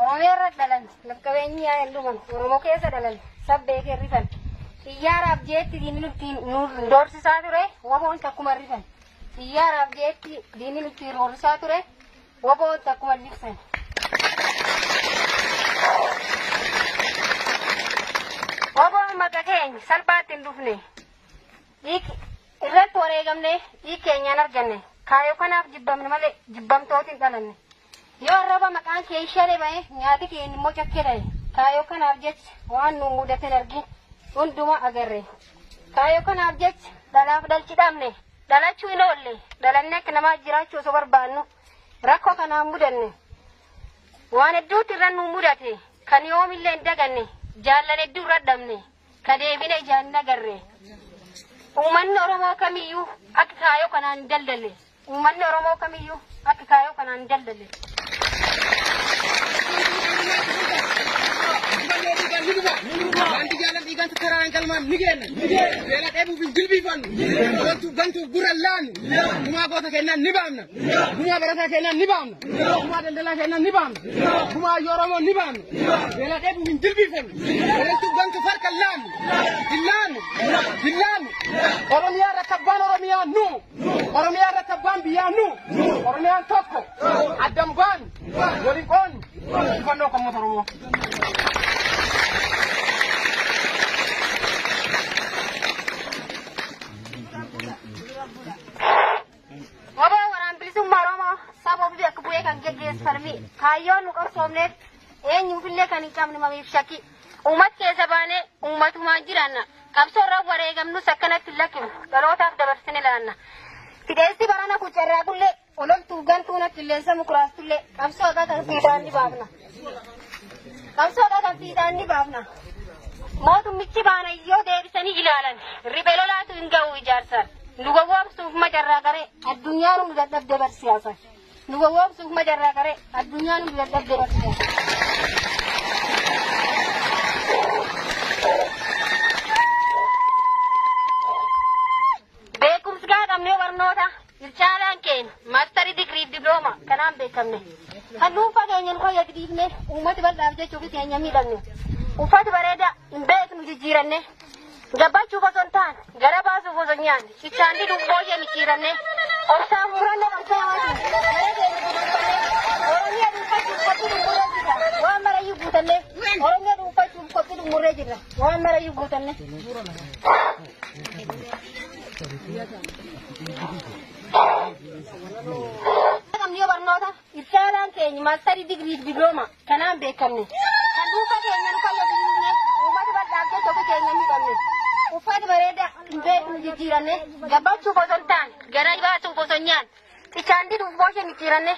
Oromiyaa irra dhalan lafqabeenyi yaa hin dhuman Oromoo keessa dhalan sabbee kee rifan xiyyaaraaf jeetti diinni nutti nu doorsisaa ture waboon takkuma rifan xiyyaaraaf jeetti diinni nutti roorrisaa ture waboon takkuma libsan. Waboon maqa keenya salphaatti hin dhufne irratti wareegamne dhiig keenyaan arganne kaayoo kanaaf jibbamne malee jibbamtooti hin dhalanne yoo arraba maqaan kee ishee ba'e nyaati kee immoo cakkee ta'e kaayoo kanaaf jecha waan nu mudate argin hundumaa agarre kaayoo kanaaf jecha dhalaaf dhalchi dhabne dhalachuu hin oolle dhalannee akka namaa jiraachuu osoo barbaannu rakkoo kanaan mudanne waan hedduutti irra nu mudate kan yoomillee hin daganne jaallan hedduu irra dhabne Ka deebine ijaan hin agarre. Uummanni Oromoo kamiyyuu akka kaayoo kanaan hin daldalle. Uummanni Oromoo kamiyyuu akka kaayoo kanaan hin daldalle. Wanti jaallan dhiigaan tattaraan galmaan ni geenna. Beela dheebuuf hin jilbiifannu. Loltuuf gantuuf gurra hin laannu. Gumaa goota kennaan ni baamna. Gumaa barataa kennaan ni baamna. Gumaa daldalaa keenna ni baamna. Gumaa yoo Oromoo ni baamna. Beela dheebu hin jilbiiffannu. Beelachuu gantu farka laannu. Dillaannu. Dillaannu. Oromiyaa irratti abbaan Oromiyaa nu. Oromiyaa irratti abbaan biyyaa nu. Oromiyaan tokko. Addan baannu. Waliin qoonnu. Injifannoo kan uummata Oromoo. Waboo waraan bilisummaa Oromoo saba ofii akka bu'ee kan geggeessu falmii kaayyoon nu qabsoofneef eenyuufillee kan hin qabne mamiif shakki uumat keessa baanee uumatumaan jiraanna qabsoorra wareegamnus akkanatti lakkinu dhalootaaf dabarsine laanna fideessi barana kucarraa kullee ololtuuf gantuun akkilleessa mukuraastullee qabsoo akka kan siidaan ni baafna. Qabsoodha kan fiixaan ni baafna. Mootummichi baana yoo deebisanii ilaalan ribe lolaatu hin ga'u ijaarsaan. Nu gowwoomsuuf majarraa garee addunyaan hundi dadhabde barsiisan. Nu gowwoomsuuf majarraa garee addunyaan hundi dadhabde barsiisan. Beekumsi gaadhamnee barnoota Ircaalaan keenya maastarii digirii fi diblooma kanaan beekamne. Kan dhuunfaa keenya nu fayyadu dhiifne uummata bal'aaf jechuuf keenya miidhamne. Uffata bareedaa hin beeknu jijjiiranne. Gabbachuuf osoo hin taane gara baasuuf osoo hin yaadne cichaan diduuf booshee micciiranne. Obsaan murannoo qabsaawaatiin gara keenya guduunfanne. Oromiyaa dhuunfachuuf qophii dhummurree jirra. Waan marayyuu guutanne. Oromiyaa dhuunfachuuf qophii dhummurree jirra. Waan marayyuu guutanne. Qabniyoo barnoota iftaalaan keenya maastarii digirii diblooma kanaan beekamne kan dhuunfaa keenya nu fayyadamne uummata bal'aaf jecha ofii keenya miidhamne uffata bareedaa hin beeknu jijjiiranne gabbachuuf osoo hin taane garaa baasuuf osoo hin nyaanne Xichaandii dubboo ishee micciiranne.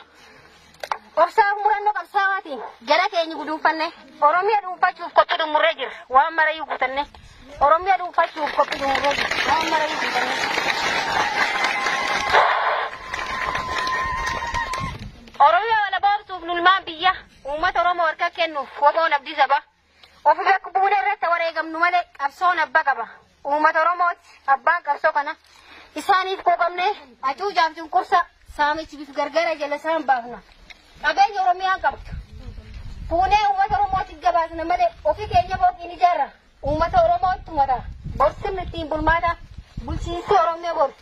Obsaa murannoo qabsaawaatiin jara keenya guduunfanne. Oromiyaa dhuunfachuuf qophii xumurree jirra. Waan marayyuu guutanne. Oromiyaa dhuunfachuuf qophii xumurree jirra. Waan marayyuu guutanne. Oromiyaa walaboomsuuf nulmaan biyya uummata Oromoo harka kennuuf waboon abdii sabaa. Of bakka buune irratti wareegamnu malee qabsoon abba qaba. Uummata Oromooti abbaan qabsoo kana. Isaaniif quuqamne acuucaaf cunqursa saamichi bifa gargara jala isaan baafna. Qabeenya Oromiyaa qabdu. Fuunee uummata Oromootiif gabaasna malee ofii keenya booqiin ijaarra. Uummata Oromootti mata. Borsinni ittiin bulmaata bulchiinsi Oromiyaa boru.